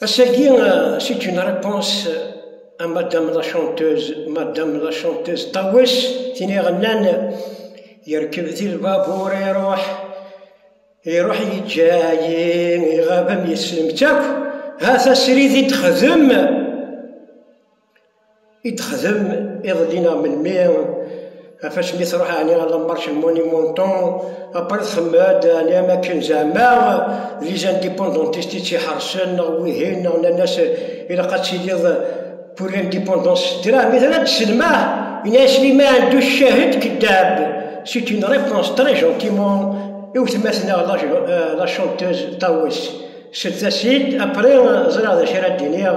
Ass-agi, c'est une réponse à madame la chanteuse, madame la chanteuse Tawes, tini ɣennan yerkeb di lbabuur iruḥ iruḥ yeǧǧa-yi iɣab am yeslem-tt akk ha tasrid i d-xdem i d-texdem iḍelli neɣ melmi, ɣef asmi i tṛuḥ ɛni ɣer la marche Monumento, après txemmem-d ɛni am akken zeɛma d les indépendantistes i tt-iḥeṛsen neɣ wihin neɣ nnan-as ilaq ad tiliḍ pour l'indépendance s ddreɛ mi tella d-tesselmaḥ, yenna-as Slimane du Cahd Keddab, c'est une réponse très gentiment i wetma-tneɣ la chanteuse Tawes, slet-as-id après ẓriɣ d acu ara d-iniɣ.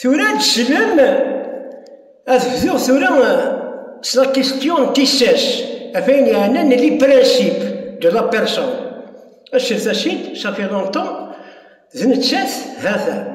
Tura ad d-sellem, ad bduɣ tura s la question n tissas, ɣef ayen yeɛnan les principes de la personne. Aset-as-id, ça fait longtemps, d nettat, ha-t-a.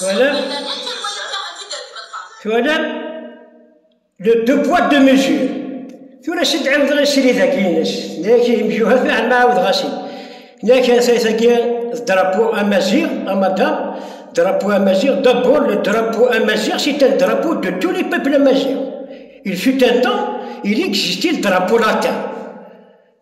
Twalam? Twalam? Le devoir de mesure. Tura si d-ɛiwdeɣ isrid-agi-ines, nek imjuhat mi ɛelma ɛawdeɣ-asen. Nek asayt-agi d drapo amaziɣ, amada, drapo amaziɣ, d'abord le drapo amaziɣ, c'est un drapo de tous les peuples amaziɣ. Il fut un temps, il existait le drapo latin.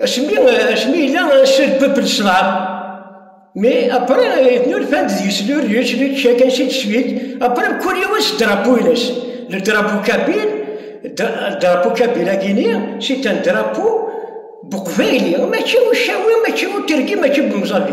Acmi, acmi yella cir peuple ccḍab, mais après yetnulfan d deg-s lurjuj, lurjuj yakan cid cid, après kul yiwen s drapeau-ines, le drapeau kabyle, drapeau kabyle agini, c'est un drapeau buqbayli, mačči ucawi, mačči uterki, mačči bemẓabbi.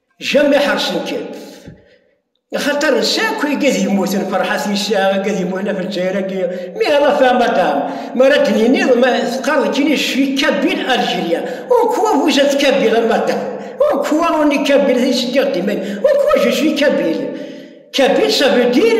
Jami ḥersen-kem. Axaṭer nesɛa akk igad yemmuten, Ferḥat yesɛa igad yemmuten ɣef Lezzayer-agi, mi ara ta madam, mi ara d-niniḍ ma teqqareḍ kini je suis Kabil Algérien, en quoi vous êtes Kabil a madam? En quoi on est Kabil? Ad yi-s-d-tiɣ dima, en quoi je suis Kabil? Kabil ça veut dire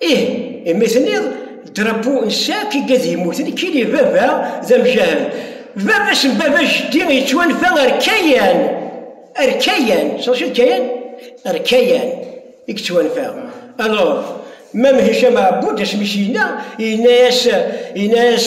Ih, imi tenniḍ drapeau n sac i gad yemmuten, kili baba d amjahed. Baba-s n baba jeddi yettwanfa ar Kayan, ar Kayan, tecreḍ Kayan? Ar Kayan i yettwanfa. Alors, Mam Hicam Ɛebud asmi i s-yenna, yenna-as, yenna-as,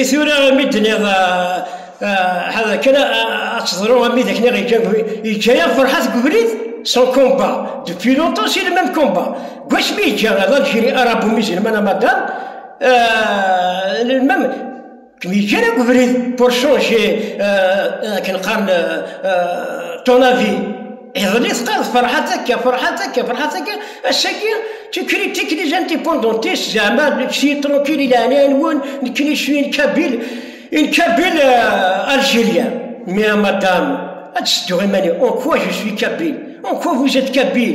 I tura imi d-nniɣ ad akken ad teḍru ami d akken yeǧǧa-yaɣ ferḥat deg ubrid son komba depuis longtemps c'est le même combat gwac mi yeǧǧa ad algérie arabu musulmane madame le même Yeǧǧa akk ubrid Porcho chez akken qqaren ton avis. Iḍelli tqal ferḥat akka, ferḥat akka, ferḥat akka, ass-agi tu critiques les indépendantistes zeɛma nekti tranquil i leɛnaya-nwen nekkni cwi n Kabil, n Kabil Algérien. Mais à madame, ad tesseddu iman-iw, en quoi je suis Kabil? En quoi vous êtes Kabil?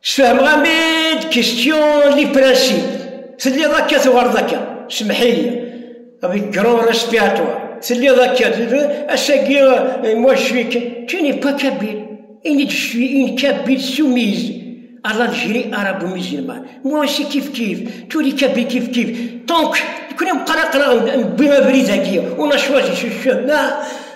Sfehmeɣ-am-id question li principe, telliḍ akka tuɣaleḍ akka, semmeḥ-iyi, avec grand respect à toi, telliḍ akka, ass-agi moi je suis, tu n'es pas kabyle, ini-d je suis une kabyle soumise à l'Algérie arabo-musulmane, moi aussi kif-kif, tous les kabyles kif-kif, tant que, nekkni meqqar aql-aɣ newwi abrid-agi, on a choisi ce chemin,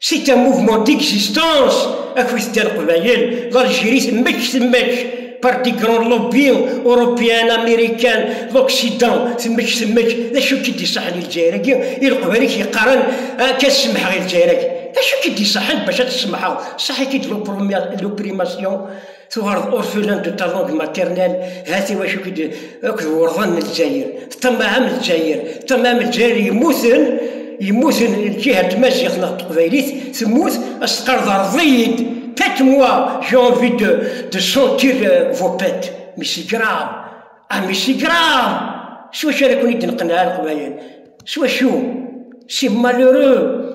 C'est un mouvement d'existence, afus de l'Qbayel, l'Algérie temmek temmek, par des grands lobbies européens, américains, l'Occident, temmek temmek, d acu ki d-iṣaḥen i Lezzayer-agi, i Leqbayel ki yeqqaren, akka ah, semḥeɣ i Lezzayer-agi. D acu ki d-iṣaḥen bac ad t-semḥeɣ? Saḥ-ik-id l'opprimasyon, Tuɣaleḍ orphelin de ta langue maternelle, hat i wacu k-id akked wurḍan n Lezzayer, ṭṭamaɛem Lezzayer, ṭṭamaɛem Lezzayer yemmuten, yemmuten lǧiha n tmaziɣt neɣ n teqbaylit temmut, ad s-teqqareḍ rreḍ-iyi-d, pète-moi, j'ai envie de, de sentir vos pètes, mais c'est grave, ah mais c'est grave, s wacu ara ken-id-neqneɛ a Leqbayel, s wacu, c'est malheureux.